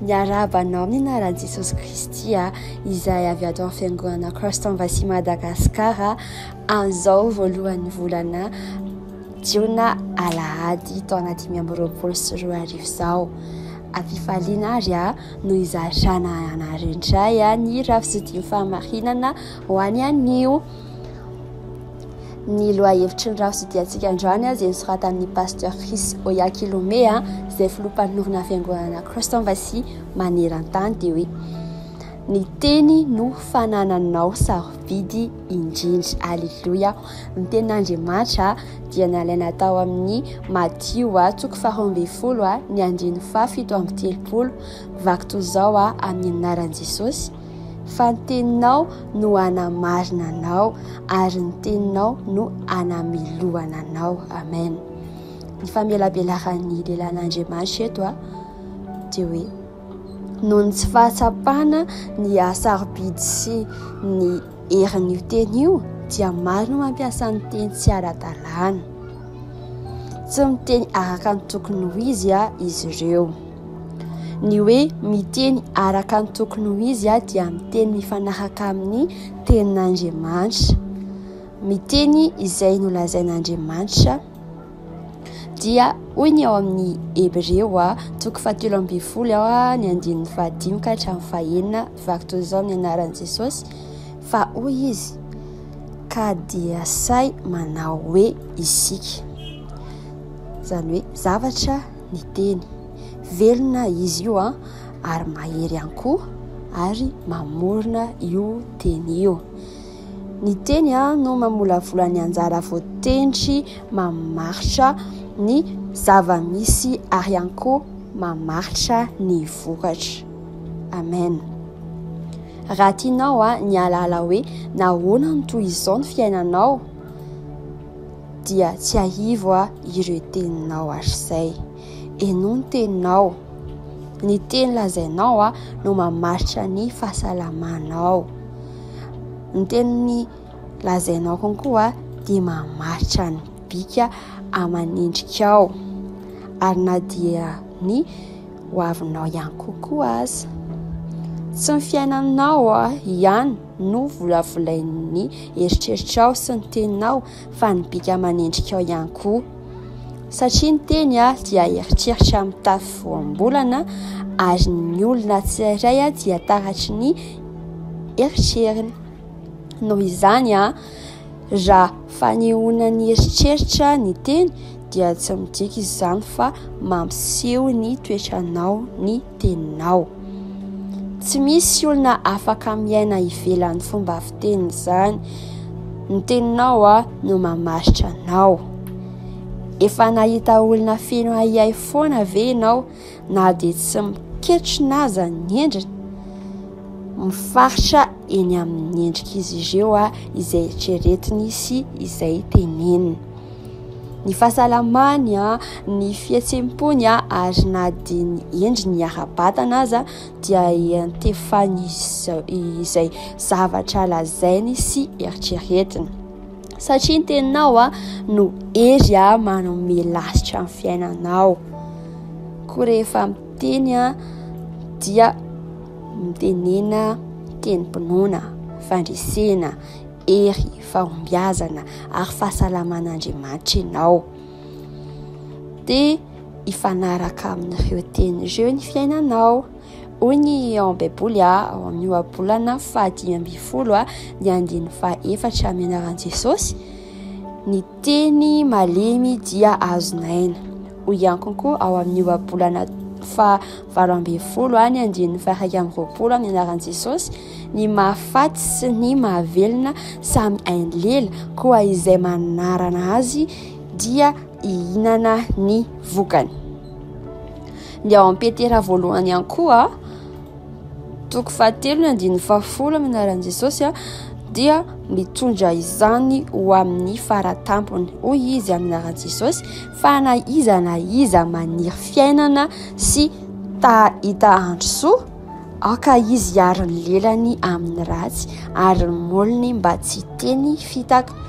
Miarahaba anao amin'ny anaran'i Jesosy Kristy ah, izay avy ato amin'ny fiangonana Christ Embassy Madagascar an'izao voalohan'ny volana jiona alahady taona dimy amby roapolo sy roa arivo izao. Ampifaliana ary ah no izarana anareo indray ah ny rafizotian'ny fahamarinana ho any anio. ny lohahevitry ny rafi-tsidiantsika androany azy nosoratan'ny pasteur Chris Oyakilome izay filoha mpanorina fiangonana Christ Embassy maneran-tany dia hoe ny teny no fanananao sarobidy indrindra aleloia ny tenin'Andriamanitra dia nalaina tao amin'ny Matio a toko faharoa ambin'ny folo a ny andininy faha fito amby telopolo vaky toy izao a amin'ny anaran'i Jesosy Fa ny teninao no hanamarina anao ary ny teninao no hanamelohana anao. Amen. Ny famelabelaran'ny lelan'Andriamanitra eto a dia hoe noho ny tsy fahatsapana ny hasarobidy sy ny herin'io teny io dia maro no mampiasa ny teny tsy ara-dalàna. Tsy miteny araka ny tokony ho izy a izy ireo. Ny hoe miteny araka ny tokony ho izy dia miteny mifanaraka amin'ny tenin'Andriamanitra. Miteny izay nolazain'Andriamanitra dia hoy ny ao amin'ny Hebreo toko fahatelo ambin'ny folo ny andininy fahadimy ka hatramin'ny fahenina vaky toy izao ny anaran'i Jesosy fa hoy izy ka dia sahy manao hoe isika izany hoe zavatra miteny. Velona izy io an, ary mahery ihany koa ary mamorona io teny io. Ny teny an no mamolavola ny anjara voatendry mamaritra ny zava-misy ary ihany koa mamaritra ny vokatra. Amen. Raha tianao an ny alalao hoe nahoana ny toy izao ny fiainanao. dia tsiahivo aho ireo teninao hatrizay. Henoy ny teninao. Ny teny lazainao no mamaritra ny fahasalamanao. Ny teny lazainao konkoa dia mamaritra ny bika aman'endrikao ary na dia ny hoavinao ihany kokoa aza. Tsy ny fiainanao ihany. Novolavolain'ny eritreritrao sy ny teninao fa ny bika manendrika ao ihany koa. Satria ny teny dia eritreritra mitafy voambolana ary ny olona tsirairay dia taratry ny eritreriny. Noho izany, Raha fanehoana ny eritreritra ny teny dia tsy midika izany fa mampiseho ny toetranao ny teninao. Tsy misy olona afaka miaina ivelan'ny fomba fiteny izany. Ny teninao no mamaritra anao. Efa nahita olona feno ahiahy foana ve ianao? na dia tsy miketrona aza ny endriny, mifaritra eny amin'ny endrik'izy ireo izay eritreretiny sy izay teneniny. Ny fahasalamany, ny fihetsem-pony ary na dia ny endriny ara-batana aza dia iantefan'izay zavatra lazainy sy eritreretiny. satria ny teninao a no hery a manome lasitra ny fiainanao koa rehefa miteny a dia mitenena tenim-pinoana fandresena hery fahombiazana ary fahasalaman'andriamanitra ianao dia hifanaraka amin'ireo teny ireo ny fiainanao Hoy ny ao am-baiboly ao amin'ny ohabolana fahadimy ambin'ny folo ny andininy fahefatra amin'ny anaran'i Jesosy ny teny malemy dia azonaina. Hoy ihany koa ao amin'ny ohabolana fahavalo ambin'ny folo ny andininy fahaika amin'ny roapolo amin'ny anaran'i Jesosy ny mahafaty sy ny mahavelona samy hainy lela koa izay manarana azy dia hihinana ny vokany. Ny ao am-petera voalohany ihany koa, toko fahatelo ny andininy fahafolo amin'ny anaran'i Jesosy dia mitondra izany ho amin'ny faratampony. Hoy izy amin'ny anaran'i Jesosy fa na iza na iza maniry fiainana sy ta hita andro soa, aoka izy hiaro ny lelany amin'ny ratsy ary ny molony mba tsy hiteny fitaka.